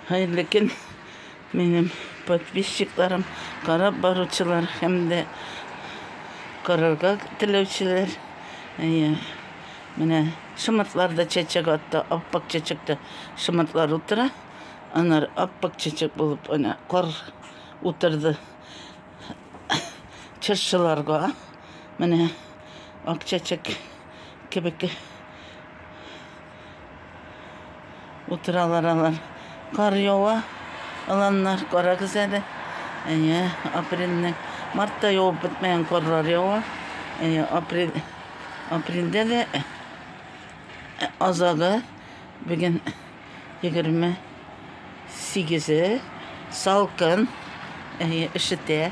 Хәерле көн, минем подписчикларым, карап баручылар һәм дә карарга теләүчеләр. Әйе, менә шымыртлар да чәчәк атты, аппак чәчәктә шымыртлар утыра. Анар аппак чәчәк булып, ана кар утырды. Чыршыларга, менә ак чәчәк кебек Утыралар алар. Кар ява, аланнар, карагыз әле. Әйе, апрельнең, мартта явып бетмәгән карлар ява. Әйе, апрель, апрельдә дә азагы, бүген 20 Сигезе салкын, әйе, өшетә.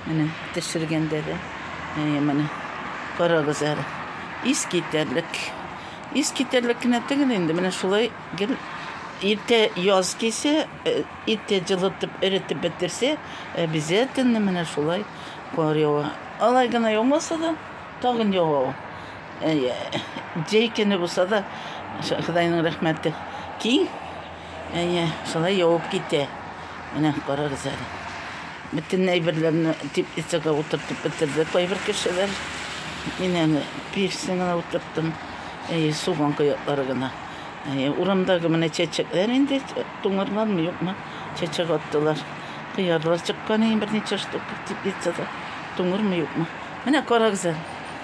Менә төшергәндә дә. Әйе, менә. Карагыз әле. Ис китәрлек. Ис китәрлек кенә түгел инде. Менә шулай гел иртә яз кисә, э, иртә җылытып, эретеп бетерсә, обязательно менә шулай кар ява. Алай гына яумаса да, тагын ява. Җәй көне булса да, Ходайның рәхмәте киң. Әйе, шулай явып китә. Менә карагыз әле. Бөтен әйберләрне теплицага утыртып бетерде кайбер кешеләр. Мин әле пирсен генә утырттым. Әйе, суган кыяклары гына. Әйе, урамдагы менә чәчәкләр инде туңырлармы, юкмы, чәчәк аттылар. Кыярлар чыккан иде берничә штук теплицада. Туңырмы, юкмы. Менә карагыз әле.